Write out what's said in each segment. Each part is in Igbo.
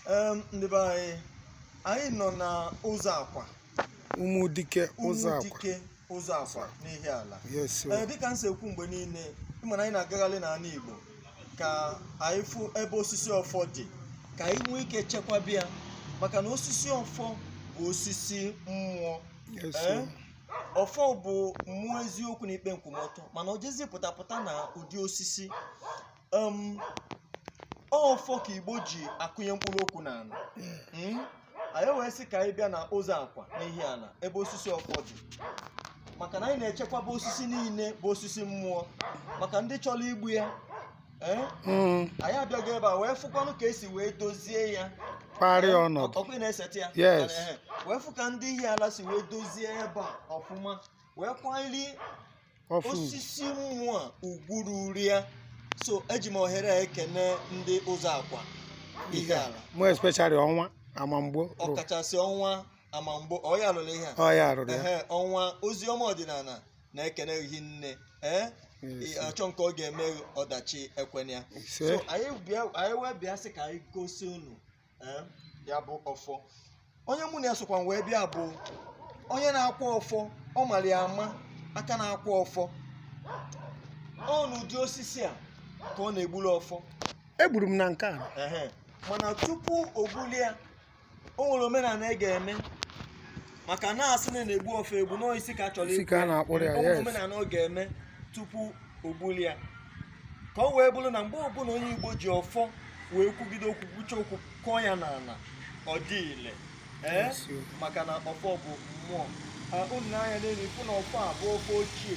Em, ndị be anyị anyị nọ na Ụzọakwa Ụmụdike Ụzọakwa Ụmụdike Ụzọakwa n'Ihiala yes o. ee dịka m si ekwu mgbe niile ị ma na anyị na-agagharị n'ala Igbo ka anyị fụ ebe osisi ọfọ dị ka anyị nwee ike chekwaba ya maka na osisi ọfọ bụ osisi mmụọ yes ee o. ọfọ bụ mmụọ eziokwu na ikpe nkwụmọtọ mana o jezi pụtapụta na ụdị osisi um, ọfọ ka Igbo ji akụnye mkpụrụ okwu n'ala Mm? anyị wee sị ka anyị bịa na Ụzọakwa n'Ihiala ebe osisi ọfọ dị maka na anyị na-echekwaba osisi niile bụ osisi mmụọ maka ndị chọrọ igbu ya ee Mm, anyị abịago ebe a wee fụkwanụ ka e si wee dozie ya kparịa ọnọdụ ọkụ na-esete ya Yes. Ehe. wee fụ ka ndị Ihiala si wee dozie ebe a ọfụma wee kwanyere ọfọ osisi mmụọ a ugwu ruru ya so eji m ohere a ekene ndị Ụzọakwa Ihiala more especially Ọnwa Amamgbo ọkachasị Ọnwa Amamgbo ọ ya lụrụ ihe a ọ ya rụrụ ya ehe Ọnwa Ozioma Ọdịnala na-ekene gị nne ee Yes. achọ nke ọ ga-eme ọdachi ekwena ya ise so anyị bịa anyị wee bịa sị ka anyị gosi unu ee ya bụ ọfọ onye mụ na ya sokwanụ wee bịa bụ onye na-akwa ọfọ ọ mara ya ama aka na-akwa ọfọ ọ n'ụdị osisi a ka ọ na-egburu ọfọ egburu m na nke a ehe mana tupu o gbulie ya o nwere omenala ị ga-eme maka na a sị na a na-egbu ọfọ egbu nọọ isi ka a chọrọ Isi ka a na-akpụrụ ya, yes. omenala ọ ga-eme tupu o gbuli ya ka o wee bụrụ na mgbe ọbụla onye Igbo ji ọfọ wee kwugide okwu kwucha okwu kụọ ya n'ala ọ dị ile ee Yes, o. maka na ọfọ bụ mmụọ Ah, unu nee anya n'elu ị fụ na ọfọ a bụ ọfọ ochie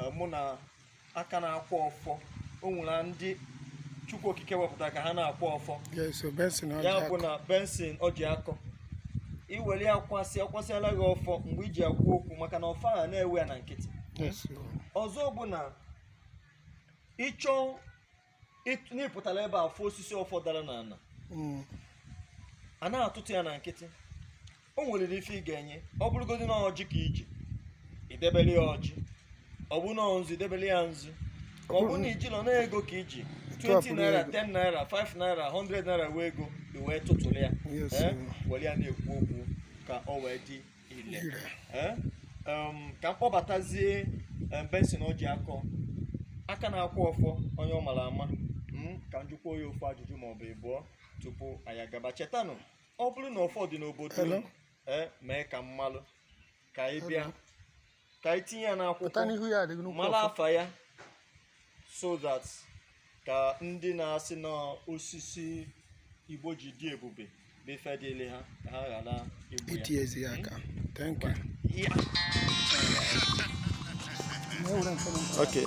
eh, mụ na aka na-akwa ọfọ o nwere ndị Chukwu Okike wepụtara ka ha na-akwa ọfọ ya bụ na Benson Ojiakọ i were ya kwasị a kwasịala gị ọfọ mgbe i ji ekwu okwu maka na ọfọ ahụ na-ewe ya na nkịtị ọzọ bụ na ị chọ na ị pụtara ebe a fụ osisi ọfọ dara n'ala hmm. a na-atụtụ ya na nkịtị o nwere ife ị ga-enye ọ bụrụgodị na ọjị ka i ji i debere ya ọjị ọ bụ na nzu i debere ya nzu ọ bụ na i jirọ na ego ka i ji 20 naira 10 naira 5 naira 100 naira wee ego i wee tụtụrụ ya were ya na-ekwu okwu ka o wee dị ile Um, ka m kpọbatazie um, Benson Ojiakọ aka na-akwa ọfọ onye ọ mara ama hmm, ka m jụkwuo ya ofu ajụjụ maọbụ ịbụọ tupu anyị agaba chetanụ ọ bụrụ na ọfọ dị n'obodo unu eh, mee ka m malụ ka anyị bịa ka anyị tinye ya n'akwụkwọ mara afa ya so that ka ndị na-asị na osisi igbo ji dị ebube bụ ife dịle ha ka ha ghara igbu ya hmm? okay